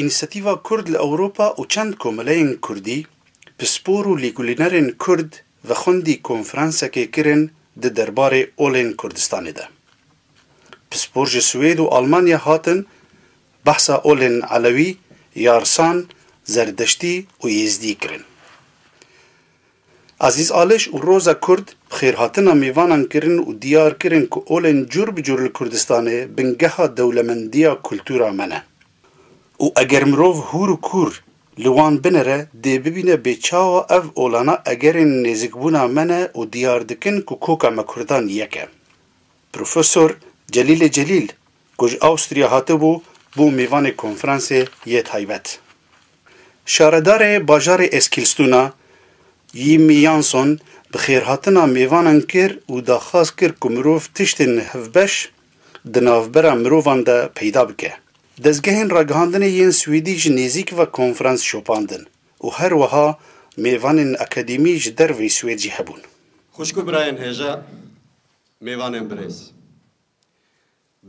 Înîsiyatîva Kurd li Ewropa û çend komeleyên Kurdî, pispor û lêkolînerên Kurd ve xwendî konferansekê kirin di derbarê olên Kurdistanê de. Pispor ji Swêd û Almanya hatin behsa olên Elewî, Yarsan, Zerdeştî û Yêzdî kirin. Azîz Aliş û Roza Kurd bi xêrhatina mêvanan kirin û diyar kirin ku olên cûr bi cûr li Kurdistanê bingeha dewlemendiya kultûra me ne û eger mirov hûr û kûr li wan binere dê bibîne bê çawa ev olana egerên nêzikbûna me ne û diyar dikin ku koka me Kurdan yek e. Profesor Celîlê Celîl Ku ji Awstriya hatibû bû mêvanê konferansê yê taybet. Şaredarê bajarê Eskilstuna, Jimmie Jansson bi xêrhatina mêvanan kir û daxwaz kir ku mirov tiştên hevbeş di navbera mirovan de peyda bike. Dezgehên ragihandinê yên Swêdî ji nêzîk ve konferans şopandin û her wiha mêvanên akademî ji derveyî Swêd jî hebûn. Xwişk û birayên hêja, mêvanên birêz.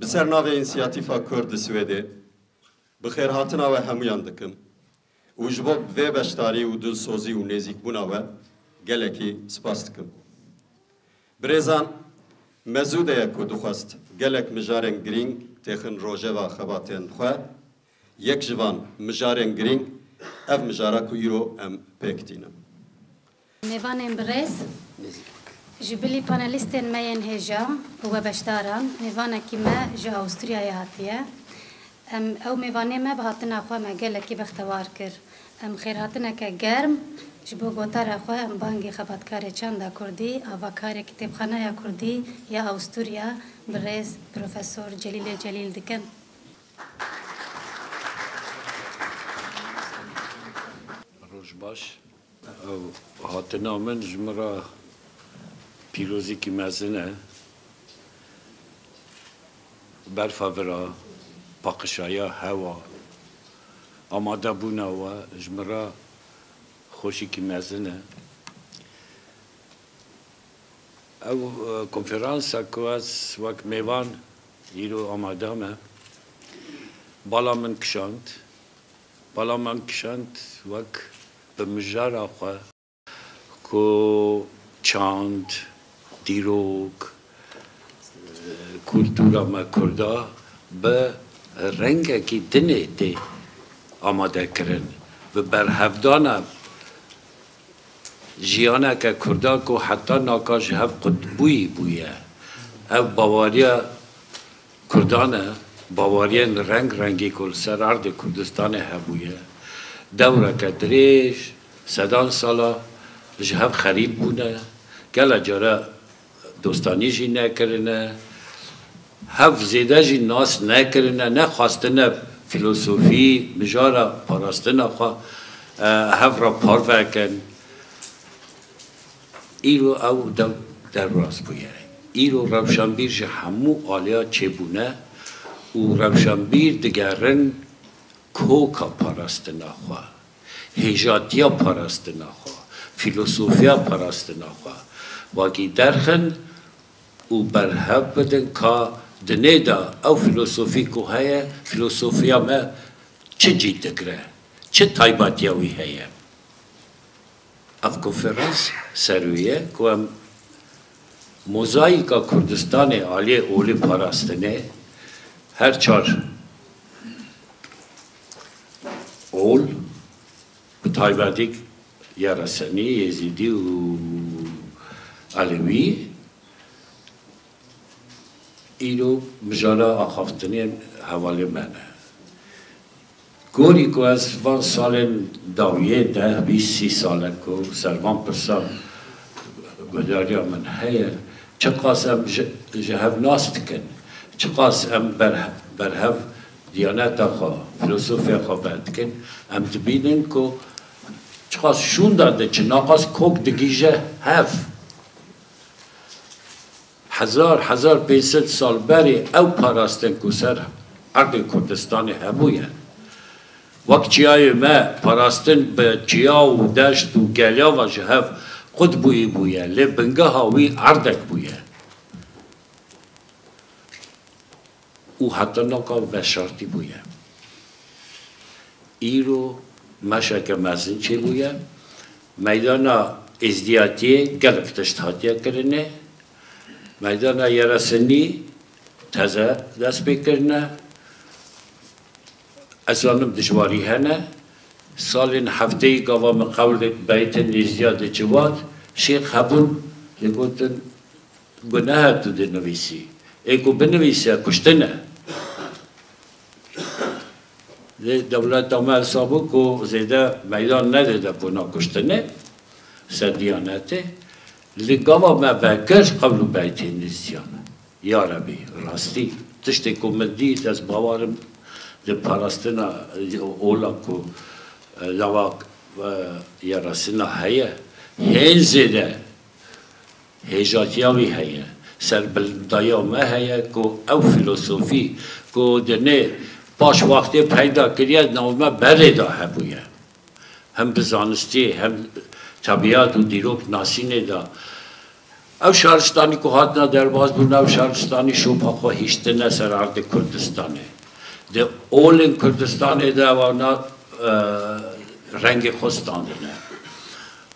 Bi ser navê Însiyatîfa Kurd li Swêdê bi xêrhatina we hemûyan dikim û ji bo vê beşdarî û dilsozî û nêzîkbûna we gelekî spas dikim. Birêzan, me zû de ye ku dixwest gelek mijarên girîng têxin rojeva xebatên xwe, yek ji van mijarên girîng ev mijara ku îro em pêk tînin. Mêvanên bi rêz, ji bilî panelîstên me yên hêja û we beşdaran, mêvanekî me ji Awûstriyayê hatiye. Em ew mêvanê me bi hatina xwe me gelekî bextewar kir. Em xêrhatineke germ ji bo gotara xwe em bangê xebatkarê çanda kurdî, avakarê kitêbxaneya kurdî ya Awûstriya bi rêz Profesor Celîlê Celîl dikin. Roj baş. Ev hatina min ji min re pîrozekî mezin e. Berfa vira, paqişaya hewa, amadebûna we ji min re xweşikî mezin e. Ev konferansa ku ez wek mêvan îro amade me, bala min kişand. Bala mam kişand wek bi mijara xwe ku çand, dîrok, kultura me kurda bi rengekî dinê tê amade kirin. Bi berhevdana jiyaneke kurda ku heta naka ji hev qutbûyî bûye. Ew bawariya. Kurdan e, baweriyên reng rengî ku li ser erdê Kurdistanê hebûye, dewreke dirêj, sedan sala ji hev xerîb bûne, gele care dostanî jî nekirine, hev zêde jî nas nekirine, nexwastine fîlosofî, mijara parastina xwe hev re parve kin. Îro ew dew derbas bûye. Îro rewşanbîr ji hemû aliya çêbûne û rewşanbîr digerin koka parastina xwe, hêjatiya parastina xwe, fîlosofiya parastina xwe vakî derxin û berhev bidin ka di nê de ew fîlosofî ku heye, fîlosofiya me çi cî digre, çi taybetiya wî heye. Ev konferans serûye ku em mozayîka Kurdistanê aliyê olî parastinê, her çar ol bi taybetî ya Resenî, Yêzîdî û Elewî îro mijara axaftinê hevalê me ne. Gorî ku ez ji van salên dawiyê deh, bîst, sî sal e ku ser van pirsan guhdarîya min heye, çiqas em ji hev nas dikin, çiqas em berhev diyaneta xwe, filosofiya xwe ber dikin, em dibînin ku çiqas şûnda diçin, naqas kok digihîje hev. Hezar hezar pênc sed sal berê ew parastin ku ser erdê Kurdistanê hebûye. Wek çiyayê me parastin bi çiya û deşt û geliava ji hev qut bûyî bûye lê bingeha wî erdek bûye. û heta naka veşartî bûye. Îro meşeke mezin çêbûye. Meydana êzdiyatiyê gelek tişt hatiye kirine. Meydana yeresinî teze dest pê kirine. Ez zanim dijwarî hene. Salên hefteyî gava min qewlek beytin êzdiya diçivat. Şêx hebûn digotin. Guneh e tu dê nivîsî. Ê ku binivîse kuştin e. Lê dewleta me hesab bû ku zêde meydan nede de kona kuştinê ser Dîyanetê. Li gava me vekir qewl û beytên nîzîyan e. Ya Rebî rastî tiştê ku min dît ez bawer im di parastina ola ku lawak ya rastina heye hên zêde Hêjatiya wî heye, serbilindaya me heye ku ew fîlosofî ku di nê paş wextê peyda kiriye nav me berê de hebûye. Hem di zanistî hem tebîat û dîroknasînê de. Ew şaristanî ku hatine derbas bûn ew şaristanî şopa xwe hiştine ser erdê Kurdistanê. Di olên Kurdistanê de wana rengê xwe standine.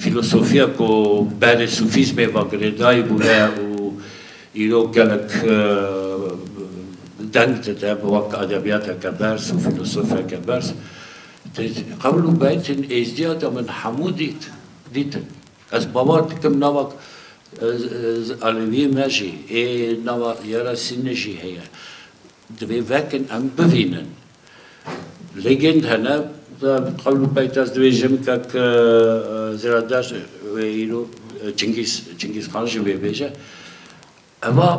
Filosofiya ku berê sufîzmê ve girêdayî bûye û îro gelek deng dide bi wek edebiyateke berz û filosofeke berz. Di qewl û beytên êzdiya de min hemû dît, dîtin. Ez bawer dikim nava alewiyê me jî ê nava Yera Sînê jî heye. Divê vekin em bivînin. Lêgên hene qewl û peyta ez dibêjim kek zêrader wê îro Çingîz Çingîz Xan jî wê bêje. Eva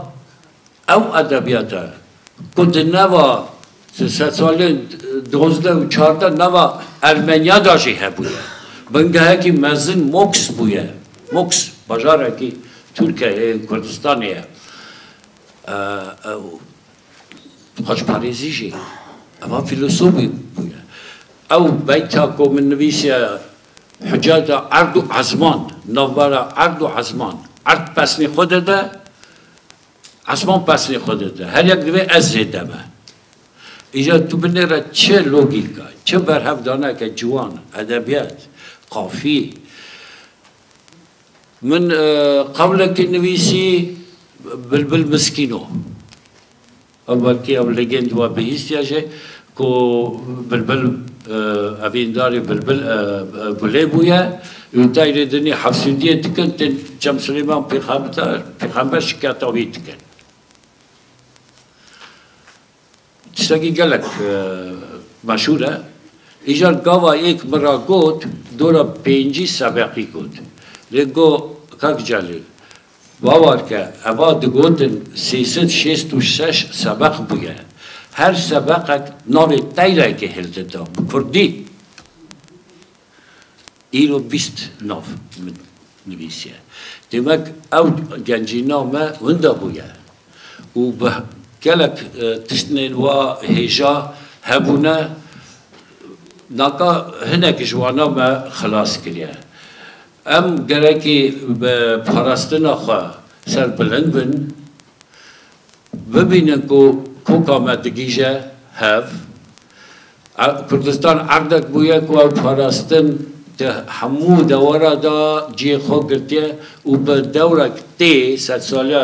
ew edebiyata ku di neva di sed salên dozdeh û çardeh neva Ermenya da jî hebûye. Bingehekî mezin Moks bûye. Moks bajarekî Tirkiyeyê û Kurdistanê ye. Xweşparêzî jî hema fîlosofî bûye. Ew beyta ku min nivîsiye Hucayda erd û ezman, navbera erd û ezman, erd pesnê xwe dide, ezman pesnê xwe dide. Her yek divê ez zêde be. Îcar tu binê re çi logîka, çi berhevdaneke ciwan, edebiyat, qafî, Min qewlekî nivîsî Bilbil miskîn o. Ew wekî ew ligên di we bihîstiye jî ku Bilbil evîndarê Bilbil Gulê bûye û teyrê dinî hevsûdiyê dikin tên Çem Silêman pêxember şiketa wî dikin. Tiştekî gelek meşhûr e. Îcar gava yek min ra got dora pêncî sebeqî got. Lê got Kak Celîl bawer ke eva digotin sê sed şêst û şeş sebeq bûye. Her sebeqek navê teyrekê hêl dida bi kurdî. Îro bîst nav min nivîsiye. Demek ew gencîna me winda bûye û bi gelek tiştnên wa hêja hebûne naka hinek ji wana me xilas kiriye. Em gerekî bi parastina xwe serbilind bin. Bibînin ku koka me digîje hev. Kurdistan erdek bûye ku ew parastin di hemû dewera de cihê xwe girtiye û bi dewrek tê sedsaliya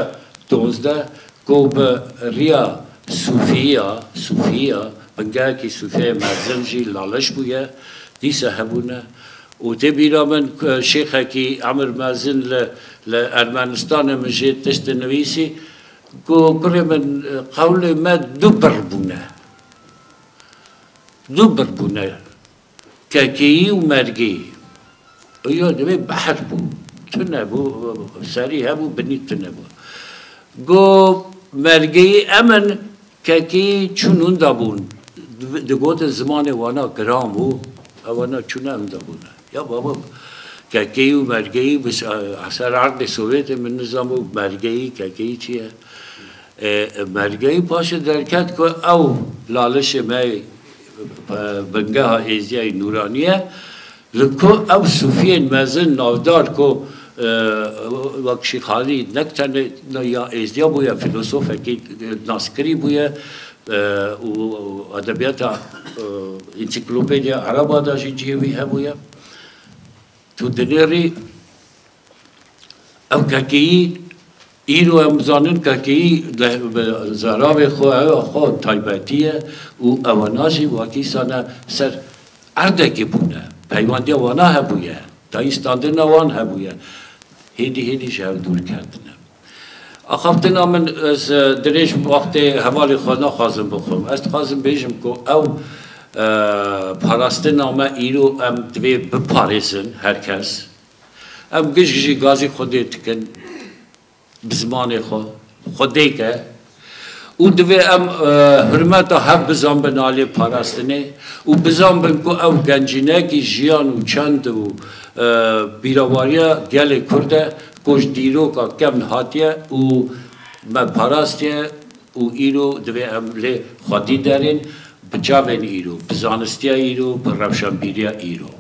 dozdeh ku bi riya sûfiya, sûfiya, bingehekî sûfiyayê mezin jî laliş bûye, dîsa hebûne Û tê bîra min ku şêxekî Emir Mezin li li Ermenistanê min jê tişt dinivîsî ku kurê min qewlê me du bir bûne. Du bir bûne. Kekeyî û mergeyî. Û yo divê behs bû. Tune bû, serî hebû, binî tune bû. Got mergeyî em in. Kekê çûn unda bûn, digotin zimanê wana giran bû, ew wana çûne unda bûne. Ya baba kekeyî û mergeyî bi ser erdê Sowêtê min nizanbû mergeyî, kekeyî çi ye. Mergeyî paşê derket ku ew lalişê me ye, bingeha êziyayî nûranî ye, Li ku ew sûfiyên mezin navdar ku wek Şîxalî ne tenê ya êzdiya bûye fîlosofekî naskirî bûye û edebiyata însiklopediya ereba de jî cihê wî hebûye. Tu dinêrî ew kekeyî Îro em zanin ke keyî deh bi zeravê xwe hewa xwe taybetî ye û ewana jî wakîsane ser erdekê bûne. Peywandiya wana hebûye, tayî standina wan hebûye. Hêdî hêdî ji hev dûr ketine. Axaftina min ez dirêj wextê hevalê xwe naxwazim bixwim. Ez dixwazim bêjim ku ew parastina me îro em divê biparêzin her kes. Em gişt jî gazî xwedê dikin bi zimanê xwe, xwedêk e û divê em hurmeta hev bizanbin aliyê parastinê û bizanbin ku ew gencînekî jiyan û çend û bîrawariya gelê Kurd e ku ji dîroka kevn hatiye û me parastiye û îro divê em lê xwedî derên bi çavên îro, bi zanistiya îro, bi rewşenbîriya îro.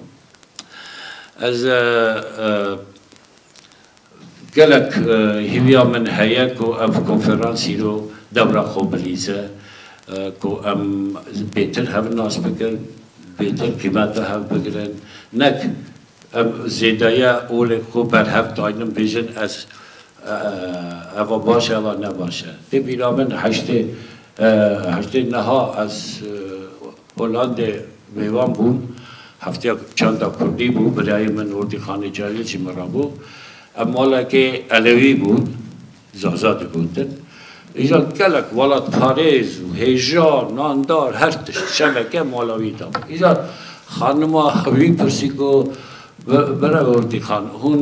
Ez gelek hîviya min heye ku ev konferans îro dewra xwe bilîze ku em bêtir hev nas bikin, bêtir qîmeta hev bigirin. Nek em zêdeya olê xwe berhev daynin bêjin ez eva baş e eva ne baş e. Tê bîra min heştê niha ez Hollandê mêvan bûm. Hefteya çanda kurdî bû. Birayê min Hordî Xanê Cayê jî min re bû. Ev malekê Elewî bûn. Zaza digotin. Îja gelek welatparêz û hêjan, nandar, her tişt, şeveke mala wî de bû. Îja xanima wî pirsî ku Bira Hordî Xan, hûn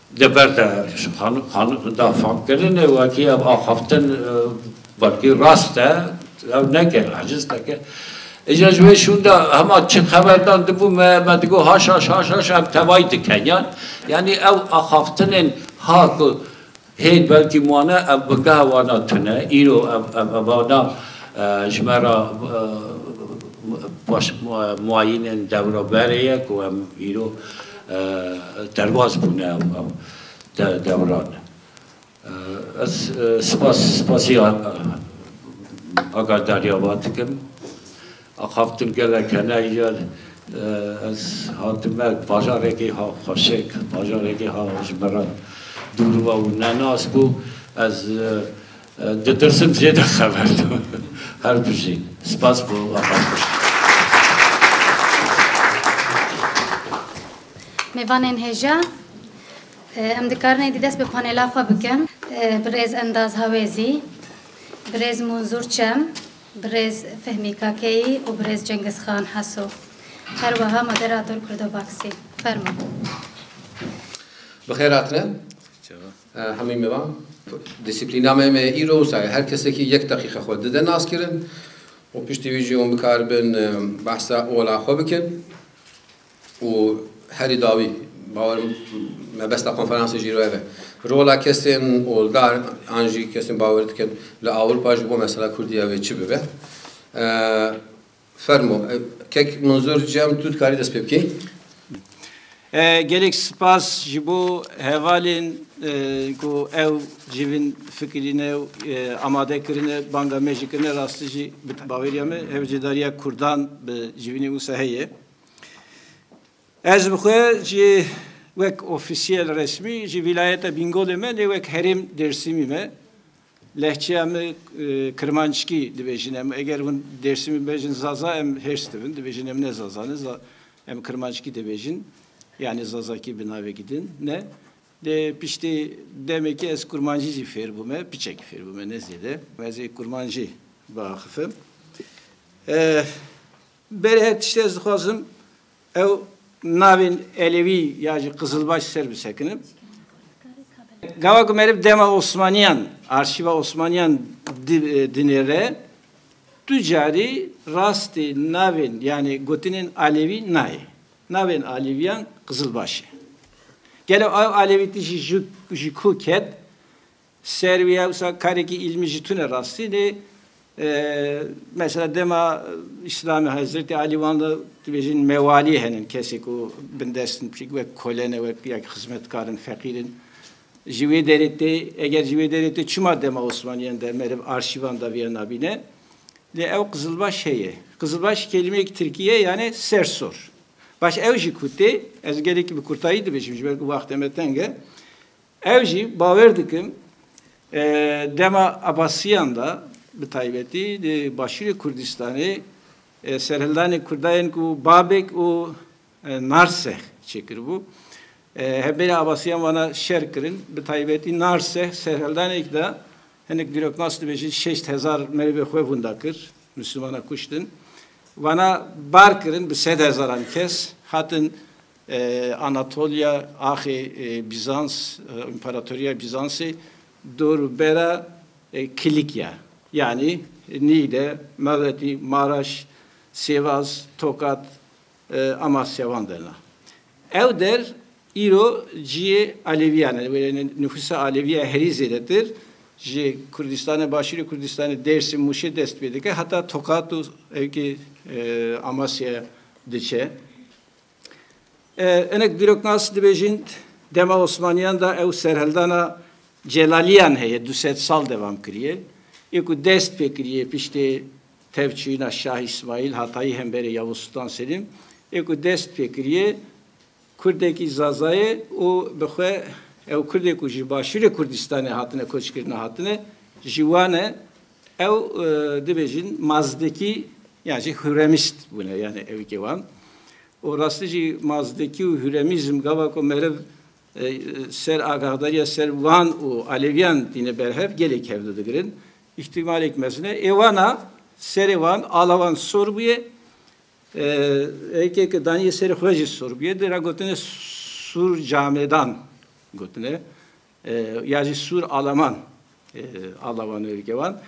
Di ber de ji xanûk da fam kirin û wekî ev axaftin belkî rast e, ew neke, eciz neke. Îcar ji wê şûn de hema çi xeberdan dibû me, me digot haşaş haşaş ev tevayî dikin yan. Yanî ew axaftinên ha ku hêj belkî wane ev bi geha wana tune, îro ev wana ji me re paş muayînên dewroberê ye ku em îro Derbas bûne ew dewran. Ez spas spasî agahdarîya wan dikim. Axaftin gelek hene îya ez hatime bajarekî ha xweşik, bajarekî ha ji me re dûr û ew nenas bû. Ez Ditirsim zêde xever do. Her bijî. Spas bo axaftin. Mêvanên hêja, em dikarin êdî dest bi panêla xwe bikin. Birêz Endaz Hawêzî, Birêz Munzûr Çem, Birêz Fehmî Kakeyî û Birêz Cengiz Xan Heso. Her wiha moderator Kurdobaksî. Fermo. Bi xêr hatine. Hemî miran dîsîplîna me me îro wisa ye. Her kesekî yek deqîqe xwe dide naskirin û piştî wî jî hûn bikaribin behsa ola xwe bikin û herî dawî bawer mebesta konferansê jî îro ev e. Rola kesên oldar an jî kesên bawer dikin li Ewropa ji bo mesela Kurdî ew ê çi bibe. Fermo. Kek no zor cem tu dikarî dest pê bikî. Gelek spas ji bo hevalên ku ew ji vin fikirîne û amade kirine banga me jî kirine rastî jî bi baweriya me hevcêdariya kurdan bi civînê wisa heye. Ez bi xwe jî wek ofîsiyel resmî ji vîlayeta Bîngolê me lê wek herêm Dêrsîmî me Lehçeya me kirmanckî dibêjin em eger hûn dêrsimî bibêjin zaza em hêrs dibin dibêjin em ne zaza ne em kirmanckî dibêjin yanî zazakî bi navekî din ne. Lê piştî demekê ez kurmancî jî fêr bûme piçekî fêr bûme ne zêde ez ê kurmancî biaxifim. Berê her tiştî ez dixwazim Ew navên Elewî ya ji Qizilbaş ser bisekinin. Gava ku meriv dema Osmaniyan, arşîva Osmaniyan dinêre, tu carî rastî navên yanî gotinên Alewî nayê. Navên Alewîyan Qizilbaş e. Gelo ew Alewî tijî ji ku ket Ser wî ewsa karekî îlmî ji tune rastînê. Mesela dema Îslamê Hezretê Elî wan de dibêjin mewalî henin, kesê ku bindest in pişik wek kole ne, wek ya xizmetkar in, feqîr in. Ji wê derê tê, eger ji wê derê tê çima dema Osmaniyan de meriv arşîvan de viya nabîne? Lê ew Qizilbaş heye. Qizilbaş kelîmeyek tirkî ye yanê ser sor. Baş ew jî ku tê, ez gelekî bi kurtayî dibêjim ji ber ku waxte me teng e. Ew jî bawer dikin dema Abasiyan de bi taybetî di Başûrê Kurdistanê serhildanê Kurdayên ku Babek û Narseh çêkiribû, Hevbêrên Abasiyan wana şer kirin. Bi taybetî Narseh serhildanekî de hinek dîroknas dibêjin şeş hezar merivê xwe vunda kir, Mislimanan kuştin. Wana bar kirin bi sed hezaran kes hatin Anatolya, axê Bîzans, Împaratoriya Bîzansê dor û bera Kilîkya yanî Nîgde, Mewetî, Maraş, Sêwaz, Tokat, Amasya wan der na. Ew der îro ciyê Elewîyan e. Wêreyê nifûsa Elewî ya herî zêdetir ji Kurdîstanê, Başûrê Kurdîstanê, Dêrsim, Mûşê dest pê dike heta Tokat û hewkê Amasyaya diçe. Hinek dîroknas dibêjin dema Osmaniyan de ew serhildana celaliyan heye du sed sal devam kiriye. Yê ku dest pê kiriye piştê tevçûyina Şah Îsmaîl Hatayî hemberê Yavuz Sultan Selîm yê ku dest pê kiriye kurdekî Zaza ye û bi xwe ew kurdê ku ji Başûrê Kurdistanê hatine koçkirine hatine ji wan e Ew dibêjin Mazdekî yan jî Huremîst bûne yanê evîkê wan û rastî jî Mazdekî û Huremîzm gava ku meriv ser agahdariya ser wan û Alevîyan tîne ber hev gelê kevdu digirin. Îhtîmalêk mezin e. Êwana serê wan ala wan sor bûye. Evîkê ke danîye serê xwe jî sor bûye. Dê re gotine Sûrcamêdan gotine. ya jî Sûr Alaman alawan êrikê wan.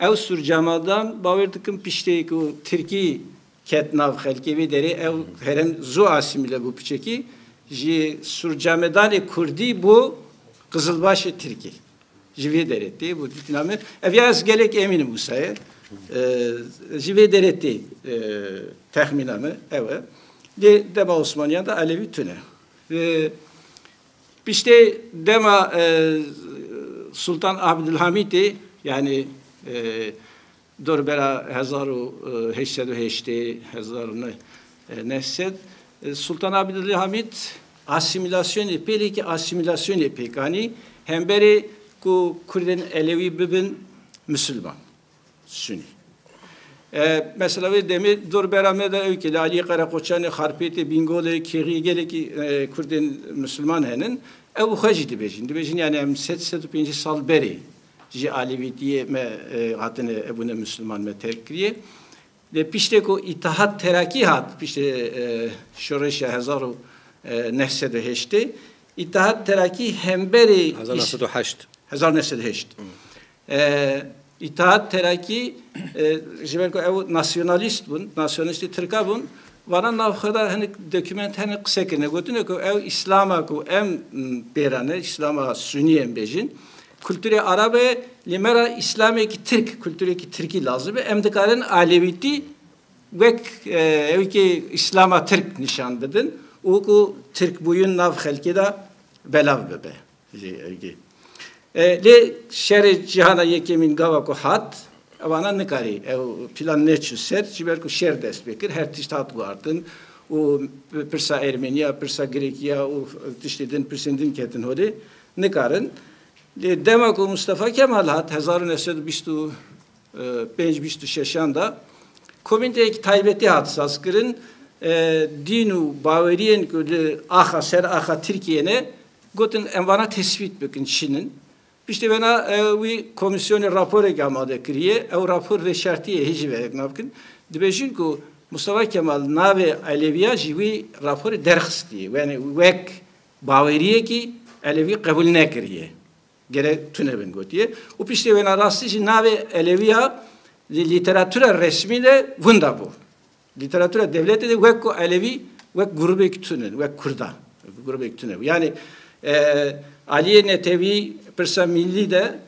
Ew Sûr Cemadan bawêr dikim piştê ku Tirkî ket nav xelkê vê derê ew herem zû asîmîle bû piçekî ji Sûr Cemedanê Kurdî bû Qizilbaşê Tirkî. Ji vê derê tê bû dîtina me. Ev ya ez gelek emîn im wisa ye. Ji vê derê tê texmîna me ew e. Lê dema Osmaniyan de Elewî tune. Piştê dema Sultan Abdulhamîtê yanî dorbera hezar û heşt sed û heştê, hezar û neh sed Sultan Abdulhamît asîmîlasyonê pêlêkî asîmîlasyonê pêk anî hemberê ku kurdên elewî bibin misilman. Sunî. Mesela wê demê dorbera me de ew ki li aliyê Qereqoçanê, Xarpêtê, Bîngolê, Kêriyê gelekî Kurdên Misliman henin. Ew xwe jî dibêjin. Dibêjin yanî em sed sed û pêncî sal berê ji alevîtiyê me hatine hebûne Misliman me terk kiriye. Lê piştê ku Îtihat Terakî hat piştê şoreşa hezar û neh sed û heştê, Îtihat Terakî hemberê hezar û neh sed û heşt hezar û neh sed û heşt Îttihat Terakî ji ber ku ew nasyonalîst bûn, nasyonalîstê tirka bûn, vana nav xwe de hinek dokûment hene qise kirine, gotine ku ew îslama ku em pê re ne, îslama sunî em bêjin, kulturê arab e, lê me re îslamêkî tirk, kulturekî tirkî lazim e, em dikarin alewîtî wek ewikê îslama tirk nîşan bidin û ku tirkbûyîn nav xelkê de belav bibe. jî ergê. Lê şerê Cîhana Yekêmîn gava ku hat, evana nikarî ew plan neçû ser ji ber ku şer dest pê kir, her tişt hat guhardin û pirsa Ermeniya, pirsa Grêkiya û tiştê din pirsên din ketin holê, nikarin. Lê dema ku Mustafa Kemal hat hezar û neh sed û bîst û pênc bîst û şeşan de komînteyek taybetî hat sazkirin, dîn û baweriyên ku li axa ser axa Tirkiyeyê ne Gotin em vana tesbît bikin çin in. Piştî vena wî komîsyonê raporekî amade kiriye. Ew rapor vê şertîyê hê jî verek nabikin. Dibêjin ku Mustafa Kemal navê Elewîya ji wî raporê derxistîye. Yanî wek bawerîyekî Elewî qebûl nekirîye. Gerek tune bin gotîye. Û piştê wena rastî jî navê Elewîya li lîteratura resmî de winda bû. Lîteratûra dewletê de wek ku Elewî wek grûbek tune, wek Kurdan grûbek tune. Yanî Aliyê Netewî pirsa mîllî de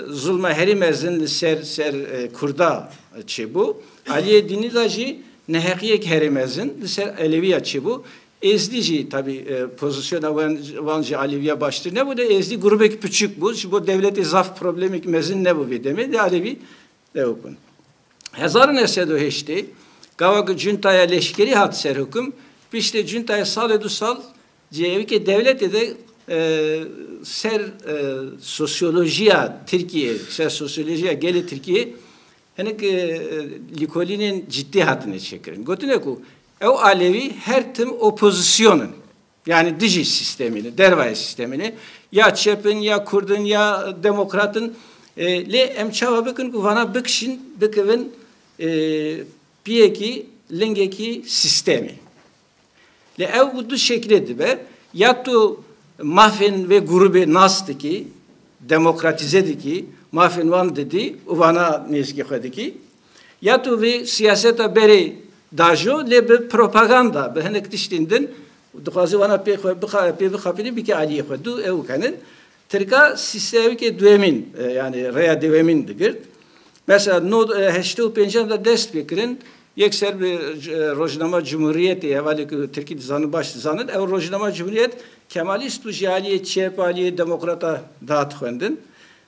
zulma herî mezin li ser ser Kurda çêbû. Aliyê Dînî de jî neheqiyek herî mezin li ser Elewiya çêbû. Êzdî jî tabî pozîsyona wan ji Alewiya baştir nebû de Êzdî grûbek piçûk bû. Ji bo dewletê zaf problemek mezin nebû vê demê de Alewî Ew bin. Hezar û neh sed û heştê gava ku cuntaya leşkerî hat ser hukum, piştê cuntayê salê du sal cêwikê dewletê de ser sosyolojiya Tirkiyeyê, ser sosyolojiya gelê Tirkiyeyê hinek lîkolînên cidî hatine çêkirin. Gotine ku ew alewî her tim opozîsyonên. Yanî dijî sîstemê ne, dervayê sîstemê ne. Ya çep in, ya kurd in, ya demokrat in. Lê em çawa bikin ku vana bikişin, bikevin piyekî, lingekî sîstemê. Lê ew bi du şeklê dibe, ya tu mafên vê grûbê nas dikî, demokratîze dikî, mafên wan didî û vana nêzîkî xwe dikî, Ya tu vê siyaseta berê dajo lê bi propaganda bi hinek tiştên din û dixwaze wana pê xwe pê bixapînî bike aliyê xwe. Du ew kenin. Tirka sîsteyamikê duyemîn yanî reya dewemîn digirt. Mesela no heştê û pêncî de dest pê kirin yek ser bi rojnama Cumhuriyetê hevalê ku tirkî dizanin baş dizanin ew rojnama Cumhuriyet kemalîst bû jî aliyê çep aliyê demokrata dihat xwendin.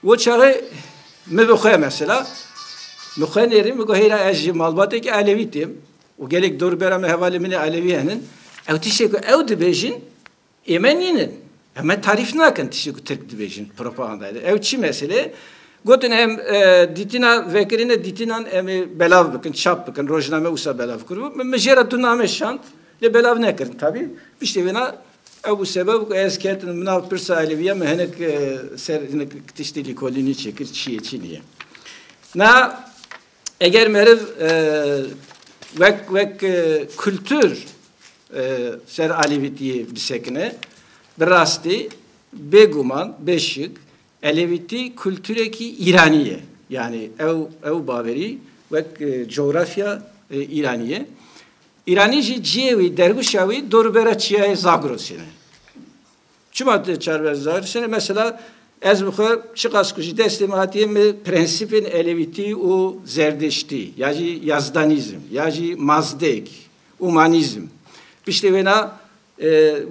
Wo çaxê min bi xwe mesela min xwe nêrîn min got heyra ez ji malbateke elewî têm û gelek dorûbera min hevalên min ê elewî henin. Ew tiştê ku ew dibêjin ê me nînin. Ew me tarîf nakin tiştê ku tirk dibêjin propagandayê de. Ew çi meselê ye? Gotin em dîtina vekirîne dîtinan em ê belav bikin, çap bikin, rojname wisa belav kiribû. Min jê re du name şand. Lê belav nekirin tabî. Piştî vêna ew bû sebeb ku ez ketim bi nav pirsa elîfbîya min hinek ser hinek tiştî lîkolînî çêkir çi ye çi nîye. Na eger meriv wek wek kultur ser alîvîtîyê bisekine bi rastî bêguman bêşik elîvîtî kulturekî îranî ye. Yanî ew ew bawerî wek cografya îranî ye. Îranî jî ciyê wî, derwişa wî dorûbera çiyayê Zagrosê ne. Çima tu çarbera Zagrosê ne? Mesela ez bi xwe çiqas ku ji destê min hatiye min prensîpên elewîtî û zerdiştî ya jî yazdanîzm ya jî mazdek, umanîzm piştê wêna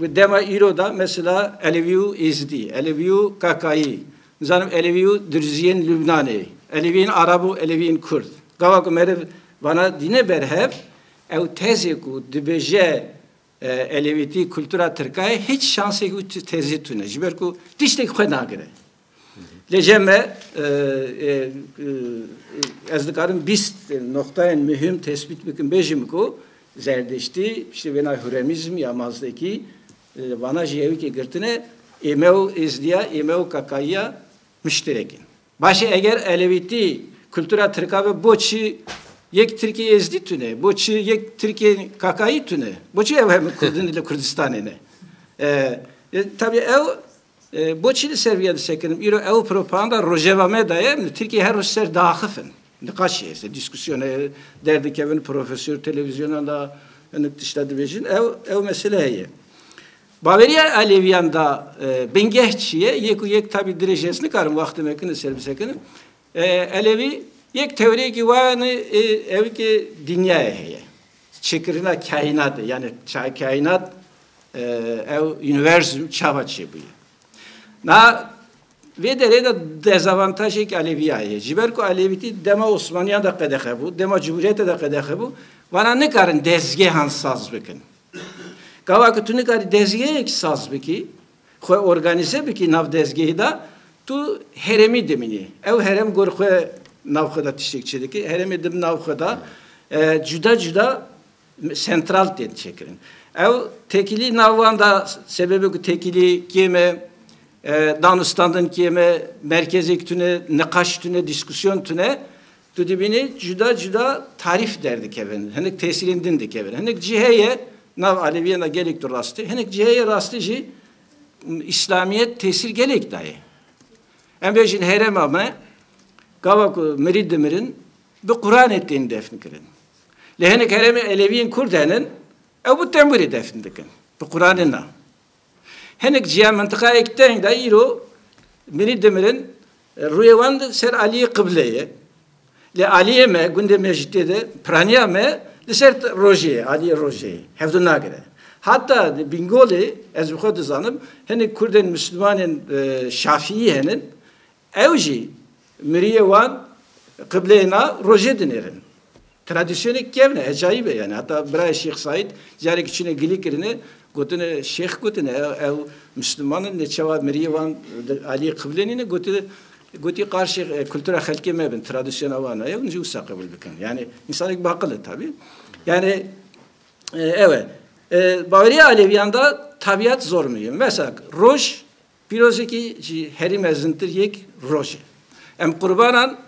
Di dema îro de mesela Elevî û Êzidî, Elevî û Kakayî, nizanim Elevî û Dirziyên Lubnanê, Eleviyên Arab û Eleviyên Kurd, gawa ku meriv vana dîne ber hev, ew tezê ku dibêje Elevîtî kultura tirka ye, hiç şansek û tezê tune. Ji ber ku tiştek xwe nagire. Lêje me ez dikarim bîst noxtayên muhîm tespît bikim bêjim ku zerdiştî piştî wêna huremîzm ya mazdekî li vana jî yewikê girtine ême û êzdiya ême û kakayiya muşterek in. Başê eger elewîtî kultura tirka be bo çi yek tirkê êzdî tune bo çi yek tirkê kakayî tune bo çi ew hemû kurdin li kurdistanê ne. Tabî ew Boçî li ser vê ya disekirim? Îro ew propaganda rojeva me de ye, em li Tirkiyeyê her roj ser diaxif in. Niqaşê ye, ser dîskusyon e, derdikevin profesor televîzyonan de hinek tişta dibêjin, ew ew mesele heye. Baweriya Elevîyan de bingeh çi ye? Yek û yek tabî dirêj ez nikarim wextê me kin li ser bisekirim. Elewî yek tewrêkî wayane ew ke dinyayê heye. Çêkirina kaînatê yanî kaînat ew universum çava çêbûye. Na vê derê de dezavantajê ki Elewîya heye. Ji ber ku Elewîtî dema Osmaniyan de qedexe bû, dema Cumhuriyetê de qedexe bû, vana nikarin dezgehan saz bikin. Gava ku tu nikarî dezgehek saz bikî, Xwe organîze bikî nav dezgehê de tu herêmî dimînî. Ew herêm gor xwe nav xwe de tiştêk çêdikî. Herêmê di nav xwe de cuda cuda sentral tên çêkirin. Ew tekîlî nav wan de sebebê ku tekîlî kêm e, danûstandin kêm e, merkezêk tune, niqaş tune, dîskûsyon tune Tu dibînî cuda cuda tarîf derdikevin, hinek tesîrên din dikevin. Hinek cî heye nav Aleviyan de gelek tu rast tê, hinek cî heye rastî jî Îslamiyet tesîr gelek dayê. Em bêjin herêma me gava ku mirî dimirin bi Quranê tên defn kirin. Lê hinek herêmê Eleviyên Kurd henin ew bi temwirê defn dikin. Bi Quranê na. Hinek ciya mintiqayek teng de îro mirî dimirin rûyê wan ser aliyê qible ye. Lê aliyê me gundê me jî tê de piraniya me li ser rojê ye, aliyê rojê ye. Hevdû nagire. Heta di Bingolê ez bi xwe dizanim hinek kurdên mislimanên şafiyî henin Ew jî miriyê wan qibleyê na rojê dinêrin. Tradisyonê kevne, ecayîb e yanî. Heta birayê Şêx Saîd carekî çûne gilî kirine, gotine Şêx gotine ew Misliman in, neçewa miriyê wan aliyê qiblê nîne, gotine gotî qarşê kultura xelkê me bin, tradisyona wan e, ew jî wisa qebûl bikin. Yanî însanek baqil e tabî. Yanî ew e. Baweriya Alevîyan de tabîat zor muhîm e. Mesela roj Pîrozekî ji herî mezintir yek roj e. Em qurbanan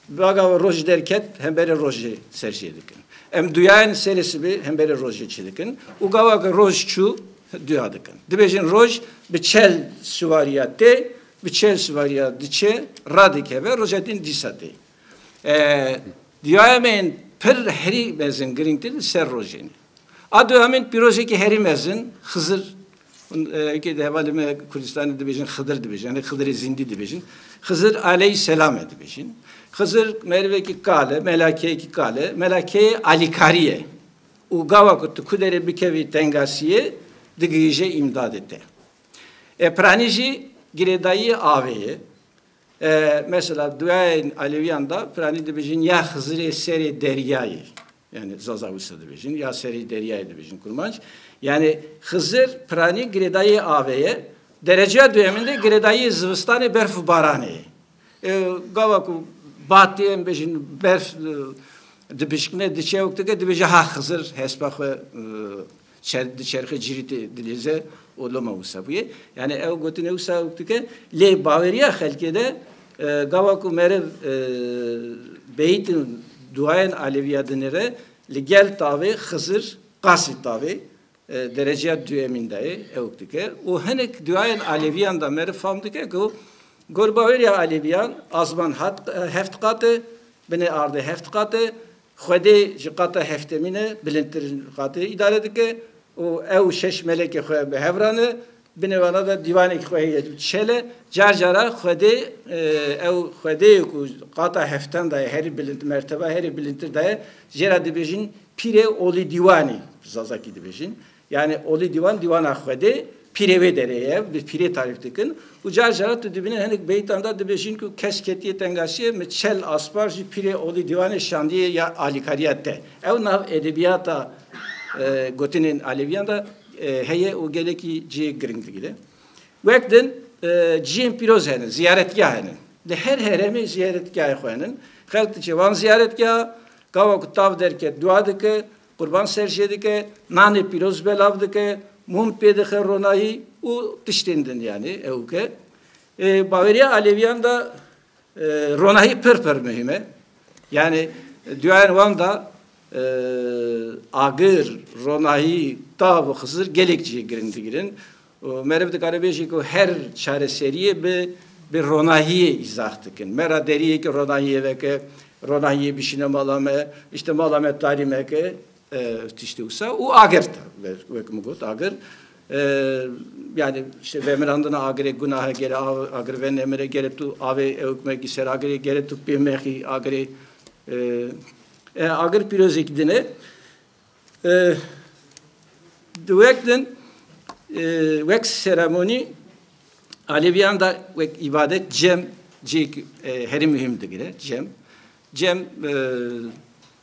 bi agava roj derket hemberê rojê ser jê dikin. Em duyayên serê sibê hemberê rojê çi dikin û gava ke roj çû duya dikin. Dibêjin roj bi çel siwariya tê, bi çel siwariya diçe, radikeve, roja din dîsa tê. Duyayên me yên pir herî mezin girîngtir li ser rojê ne. A du hemîn pîrojekî herî mezin Xizir û di hevalê me Kurdistanê dibêjin Xidir dibêjin yanî Xidirê Zîndî dibêjin. Xizir aleyî selam e dibêjin. Xizir merivekî kal e, melakeyekî kal e. Melakeyê alîkarî ye û gawa ku tu ku derê bikevî tengasiyê digihîje îmdadê te. E piranî jî girêdayiyê avê ye. E mesela duyayên alewîyan de piranî dibêjin ya Xizirê serê deryayê. Yanî Zaza wisa dibêjin ya serî deryayê dibêjin kurmanc. Yanî Xizir piranî girêdayî avê ye. Dereceya duyemin de girêdayî zivistanê berf û baranê ye. Gava ku batê em bêjin berf dibişkine diçe û dike dibêje ha Xizir hespa xwe Çerx di çerxê cîrî tê dilêze û loma wisa bûye. Yanî ew gotinê wisa wek dike. Lê baweriya xelkê de gava ku meriv beyîtin duayên Aleviya dinê re li gel tavê Xizir qasî tavê dereceya duyemîn de yê ew wek dike û hinek duayên Aleviyan de meriv fam dike ku gor baweriya Aleviyan asman heft qat e, binê ardê heft qat e, Xwedê ji qata heftemîn e bilindtirîn qatê îdare dike û ew şeş melekê xwe bi hev re ne. Binê wana de dîwanekî xwe heye û çel e. Car cara xwedê ew xwedeyê ku qata heftem de ye, herî bilind merteba herî bilindtir de ye, jê re dibêjin pîrê olî dîwanî, bi zazakî dibêjin. Yanî olî dîwan dîwana Xwedê pîrê wê derê ye, bi pîrê tarîf dikin û car caran tu dibînî hinek beyîtan de dibêjin ku kes ketiye tengaşiyê min çel aspar jî pîrê olî dîwanê şandiye ya alîkariya te. Ew nav edebiyata gotinên alevîyan de heye û gelekî cihê giring digire. Wek din cihên pîroz hene, ziyaretgah hene. Li her heremê ziyaretgahê xwe hene. Xelk diçe wan ziyaretgaha, gawa ku tav derket dua dike, Qurban ser jê dike, nanê pîroz belav dike, mûm pê dixe ronahî û tiştên din yanî ew ke ê baweriya Alevîyan de ronahî pir pir muhîm e. Yanî duyayên wan de agir, ronahî, tav û xizir gelek cihê giring digirin. û meriv dikare bêjî ku her çareseriyê bi bi ronahiyê îzax dikin. Me ra deriyê ki ronahiyê veke, ronahiyê bişîne mala me, îşte mala me tarî meke tiştê wisa û agir ta wek min got agir yani işte vemirandina agirê gunahe gere agir ve nemire gere tu avê ewkmekî ser agirê gere tu pêmexî agirê agir pîrozêk dine Di wek din wek seremonî Alevîyan de wek îbadet cem cihêk herî muhîm digire cem. Cem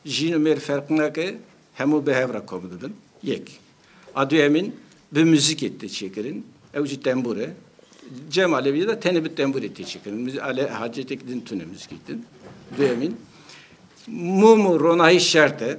jîn û mêr ferq nake hemû bi hev re kom dibin yek. A duyemîn bi muzîkê tê çêkirin ew jî tembûr e. Cem Alevîyê de tenê bi tembûrê tê çêkirin. Hacetêk din tune muzîkê din. Duyemîn mûm û ronahî şert e.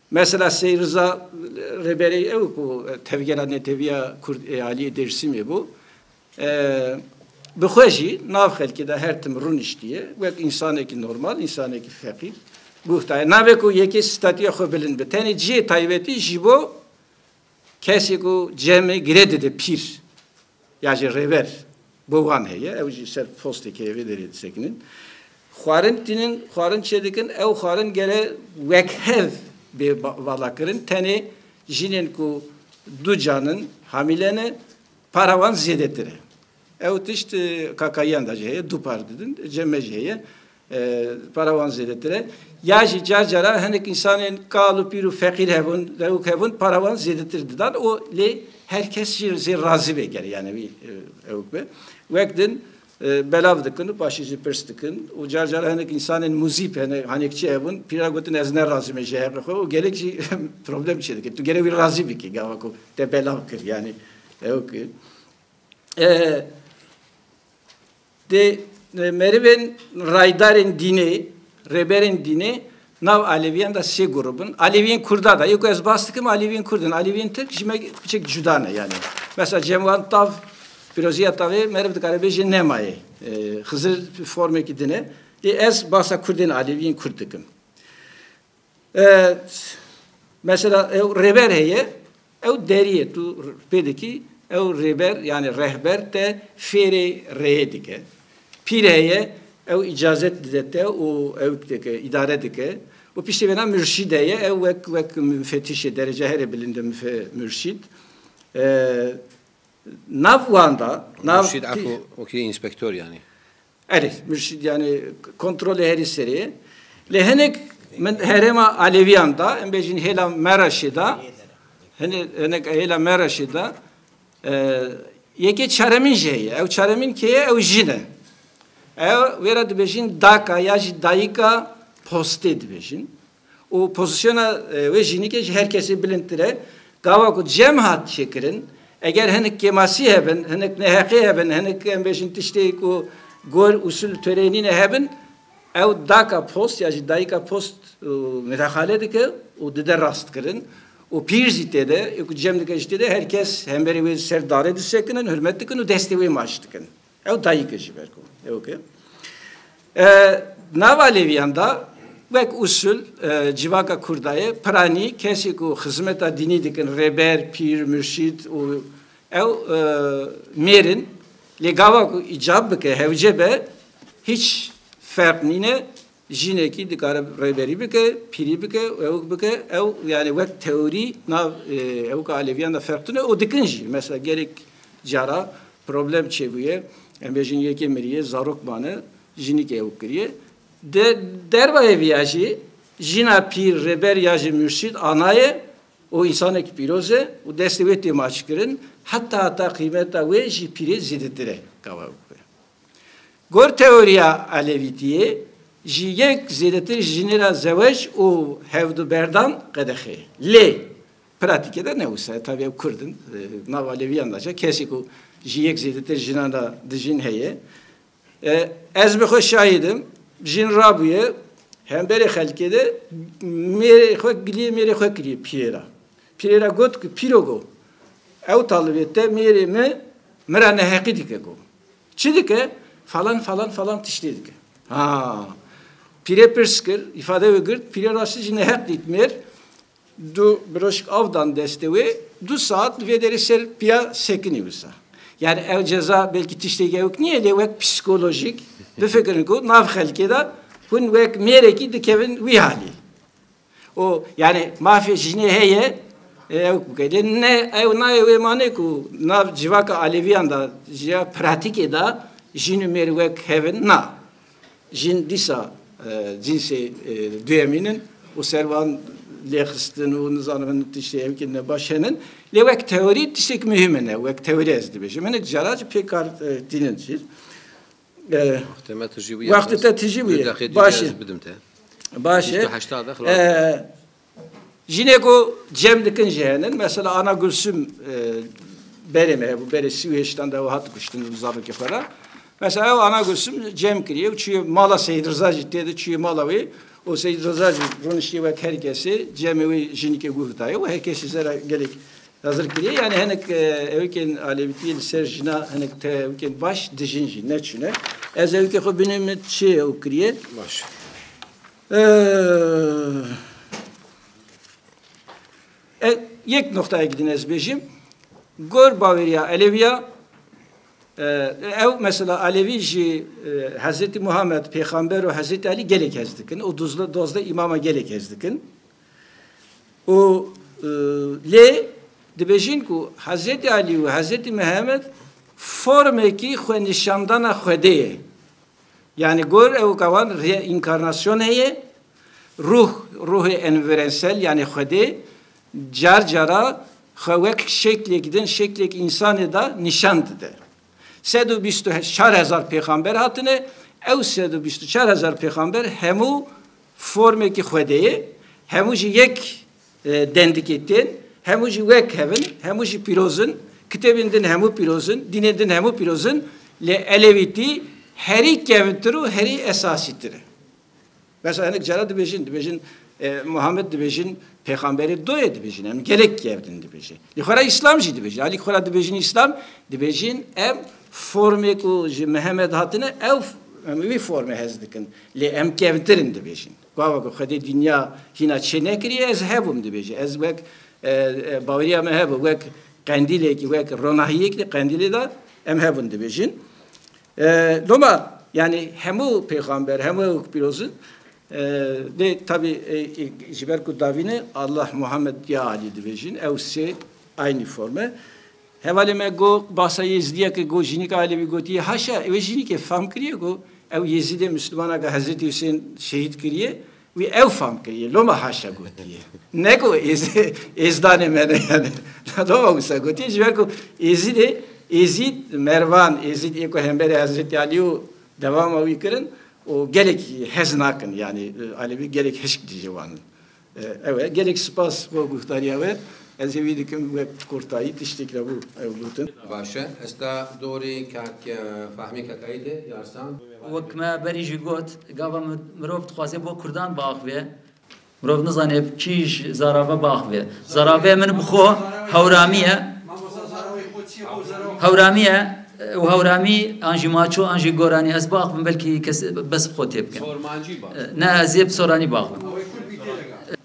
Mesela Seyîd Riza Rêberê ew ku tevgera Netewîya Kurd ê Aliyê Dêrsimê bû, bi xwe jî nav xelkê de her tim rûniştiye wek însanekî normal, însanekî feqîr guhtaye. Navê ku yekê statûya xwe bilind be tenê cihê taybetî ji bo Kesî ku cemê girê dide pîr ya jî rêber bo wan heye ew jî ser postê keyevê derê disekinin. Xwarin tînin, xwarin çêdikin ew xwarin gere wekhev bê valakirin tenê jinên ku du can in, hamîle ne para wan zêdetir e. Ew tişt Kakayiyan de jî heye, du par didin, ceme jî heye. Para wan zêdetir e. Ya jî car cara hinek însanên kal û pîr û feqîr hebûn, rewik hebûn para wan zêdetir didan û lê her kes jî zêr razî bê ger yanî wî ewk be. Wek din belav dikin û paşê jî pirs dikin û car cara hinek însanên muzîp hene hanekçî hebûn pîra gotin ez ne razî me ji heqê xwe û gelek jî problem çê dike. Tu gere wî razî bikî gava ku te belav kir yanî ewk. Di merivên rayedarên dînê, rêberên dînê nav Aleviyan de sê grup in. Aleviyên Kurda de, yê ku ez bas dikim Aleviyên Kurd in. Aleviyên Tirk ji me biçik cuda ne yanî. Mesela cem wan tav, pîroziya tavê meriv dikare bêje nemaye. Xizir formekî din e. Lê ez basa Kurdên Aleviyên Kurd dikim. Mesela ew rêber heye, ew deriyê tu pê dikî, ew rêber yanî rehber te fêrê rêyê dike. Pîr heye, ew îcazet dide te û ew dike, îdare dike. Û piştî vêna murşîd heye, ew wek wek mufetîşê derece herê bilind e murşîd. Nav wan de, nav Murşîd eko wekî înspektor yanî. Erê, yani kontrolê herî serê ye. Lê hinek min herêma Aleviyan da, em bêjin hêla Meraşê da, hinek hêla Meraşê da, yekê çaremîn jî heye. Ew çaremîn kê ye, ew jin e. Ew wê re dibêjin daka ya jî dayika postê dibêjin. û pozîsyona wê jînîkê ji her kesê bilindtir e. Gava ku cem hat çêkirin, eger hinek kêmasî hebin, hinek neheqê hebin, hinek em bêjin tiştê ku gor, usûl û toreyê nîne hebin, ew daka post ya jî dayika post midaxale dike û dide rastkirin û pîr jî tê de, ê ku cem dike jî tê de, her kes hemberî wê li ser darê disekinin, hurmet dikin û destê wê maç dikin. Ew dayîk e ji ber ku ew ki di nava lêviyan da wek usul civaka Kurda ye piranî kesî ku xizmeta dînî dikin rêber, pîr, murşîd û ew mêrin lê gava ku îcab bike hewce be hîç ferq nîne Jinekî dikare rêberî bike, pîrî bike û ewik bike. Ew yanî wek teorî nav ewika alevîyan de ferq tune û dikin jî. Mesela gelek cara problem çêbûye, em bêjin yekê miriye, zarok mane, jinîkê ewik kiriye. Di dervayê vî ya jî jina pîr, rêber ya jî mûrşîd ana ye û însanekî pîroz e û destê wê tê maçkirin. Heta heta qîmeta wê ji pîrê zêdetir e. Gor teoriya Elevîtiyê jî yek zêdetir ji jinê re zewej û hevduberdan qedexê ye. Lê pratîkê de ne wisa ye. Tabî ew kurd in. Di nava Aleviyan de jî kesê ku ji yek zêdetir jinan re dijîn heye. Ez bi xwe şahîd im. Jin rabûye hemberê xelkê de mêrê xwe giliyê mêrê xwe kiriye pîrê re. Pîrê re got ku pîro go ew talibê te mêrê min min re neheqî dike go. Çi dike? Falan falan falan tiştê dike. Ha. Pîrê pirs kir, îfade wê girt, pîrê rastî jî neheq dît mêr, du biroşik av dan destê wê, du saet li vê derê ser pîya sekinî wisa. Yanî ew ceza belkî tiştêk ewk nîye lê wek psîkolojîk bifikirin ku nav xelkê de hûn wek mêrekî dikevin wî halî. û yanî mafê jinê heye ew ku bike. Lê ne ew nayê wê manê ku nav civaka Alevîyan de jiya pratîkê de jin û mêr wek hev in. Na. Jin dîsa cînsê duyemîn in û ser wan lêxistin û nizanim hin tiştê hevkî ne baş henin. Lê wek teorî tiştêk muhîm in ew. Wek teorî ez dibêjim. Hinek caran jî pê kar tînin jî. Wextê te tijî bûye. Baş e. Baş e. Jinê ku cem dikin jî hene. Mesela Ana Gulsum berê me hebû. Berê sî û hêştan de ew hat kuştin li zarokê xwe re. Mesela ew Ana Gulsum cem kiriye û çûye mala Seyîd Riza jî tê de çûye mala wê û Seyîd Riza jî rûniştiye wek her kesê cemê wê jinîkê guhdaye û her kesî zera gelek Hazir kiriye yani hinek evkên alevîtiyê li ser jina hinek tevkên baş di jin jî neçûne. Ez evkê xwe binê min çi ew kiriye. Baş. Yek noktayek din ez bêjim. Gor baweriya Eleviya ew mesela Alevî jî Hezretî Muhammed Pêxamber û Hezretî Elî gelek hez dikin û dozde îmama gelek hez dikin. Û lê dibêjin ku Hezretî Alî û Hezretî Mihemed formekî xwenîşandana Xwedê ye. Yanî gor ew ka wan reinkarnasyon heye, ruh, ruhê envirensel yanî Xwedê car cara xwe wek şeklêk din, şeklêk însanê de nîşan dide. Sed û bîst û çar hezar pêxamber hatine, ew sed û bîst û çar hezar pêxamber hemû formekî Xwedê ye, hemû jî yek dendikê tên, hemû jî wek hev in, hemû jî pîroz in, kitêbên din hemû pîroz in, dînên din hemû pîroz in, lê Elewîtî herî kevntir û herî esasîtir e. Bes e hinek cara dibêjin, dibêjin Muhammed dibêjin pêxamberê doyê dibêjin em gelek kevdin dibêjin. Lê xwe re îslam jî dibêjin. Alî xwe re dibêjin îslam, dibêjin em formê ku ji Mihemed hatine ew em wî formê hez dikin. Lê em kevtirin dibêjin. Gava ku xwedê dinya hîna çê nekiriye ez hebûm dibêje. Ez wek baweriya me hebû wek qendîlekî wek ronahiyekî qendîlê de em hebûn dibêjin. Loma yanî hemû pêxamber, hemû ew ku pîroz in lê tevî ji ber ku dawî ne Allah, Muhammed ya Alî dibêjin ew sê aynî form e. Hevalê me got basa Yêzîdiyeke got jînika Elevî gotiye haşa wê jînîkê fam kiriye ku ew Yêzîdê Mislimaneke Hezretî Husên şehîd kiriye Wî ew fam kiriye, loma haşa gotiye. Ne ku êzdanê me ne yani. Loma wisa gotiye ji ber ku Êzîdê, Êzîd, Mervan, Êzîd ê ku hemberî Hezretî Alî û dewama wî kirin û gelek hez nakin yani Alevî gelek hişk dijî wan in. Ew e. Gelek sipas bo guhdarîya we. Ez hêvî dikim wek kurtayî tiştêk hebû ew gotin. Baş e. Esta dorê kak Fahmî Kakayî de Yarsan. Wek me berî jî got, gava mirov dixwaze bo kurdan biaxive, mirov nizane bi kî ji zarave biaxive. Zarave min bi xwe Hewramî ye. Hewramî ye û Hewramî an jî Maço an jî Goranî ez biaxivim belkî kes bes bi xwe tê bikin. Ne ez ê bi Soranî biaxivim.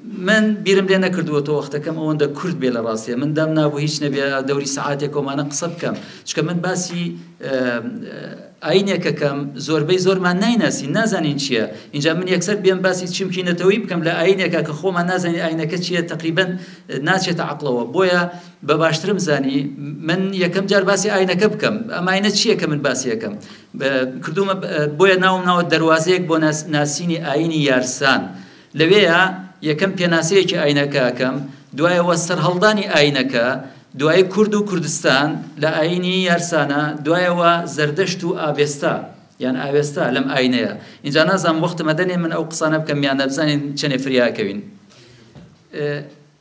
Min bîrim lê nekirdiwe to wextekem ewende kurd bê li rastî. Min dem nabû hîç nebî dewrî saetê ku mane qise bikem. Çike min basî ayîneke kem zorbey zor me naynesîn, nazanîn çi ye. Înca min yekser bêm basî çimkî neteweyî bikem li ayîneke ke xwe me nazanîn ayîneke çi ye teqrîben naçête eqla we. Boya be baştir im zanî min yekem car basî ayîneke bikem. Em ayîne çi ye ke min basî yekem kirdo me boya nawim nawe derwazeyek bo nasînî ayînî yarsan. Li wê ya yekem pênaseyekî ayîneke akem, duayê we serheldanî ayîneke, duayê Kurd û Kurdistan li ayînî yersana, duayê we Zerdeşt û Avesta yan Avesta lem ayîne ye. Înca nazanim wexti me de nê min ew qisane bikim yan ne bizanîn çenê firya akewîn.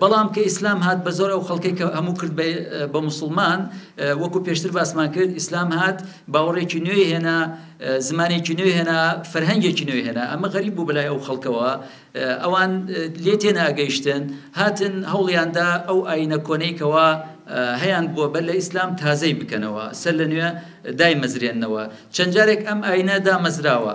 Belam ke Îslam hat be zor ew xelkê ke hemû Kurd be be Musulman, wekû pêştir basman kir Îslam hat bawerêkî nûyê hêna, zimanêkî nûyê hêna, ferhengêkî nûyê hêna. Em xerîb bû bi lay ew xelke we. Ewan lê têne ageyiştin. Hatin hewliyan da ew ayîne koneyî ke we heyand bû be li Îslam tazeyî bikene we. Ser li nûye dayê mezirêne we. Çend carek em ayîne da mezira we.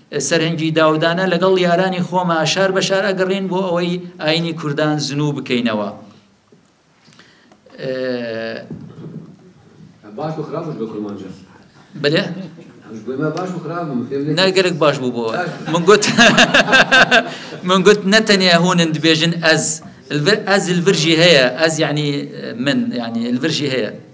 Serhingî Dawdane legel yaranî xwe me şar be şar agirîn bo ewey ayînî kurdan zinû bikeynewa. Baş û xirab be kurmanca. Bile? Ne gerek baş bû bo. Min got min got ne tenê hûn in dibêjin ez. Ez il vir jî heye. Ez yanî min yanî il vir jî heye.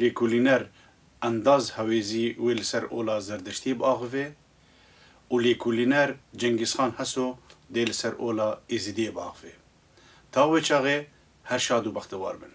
Lêkolîner Endaz Hewêzî wê li ser ola Zerdiştî biaxivê û lêkolîner Cengîzxan Heso dê li ser ola Êzidiyê biaxivê. Ta wê çaxê her şad û bextewar bin.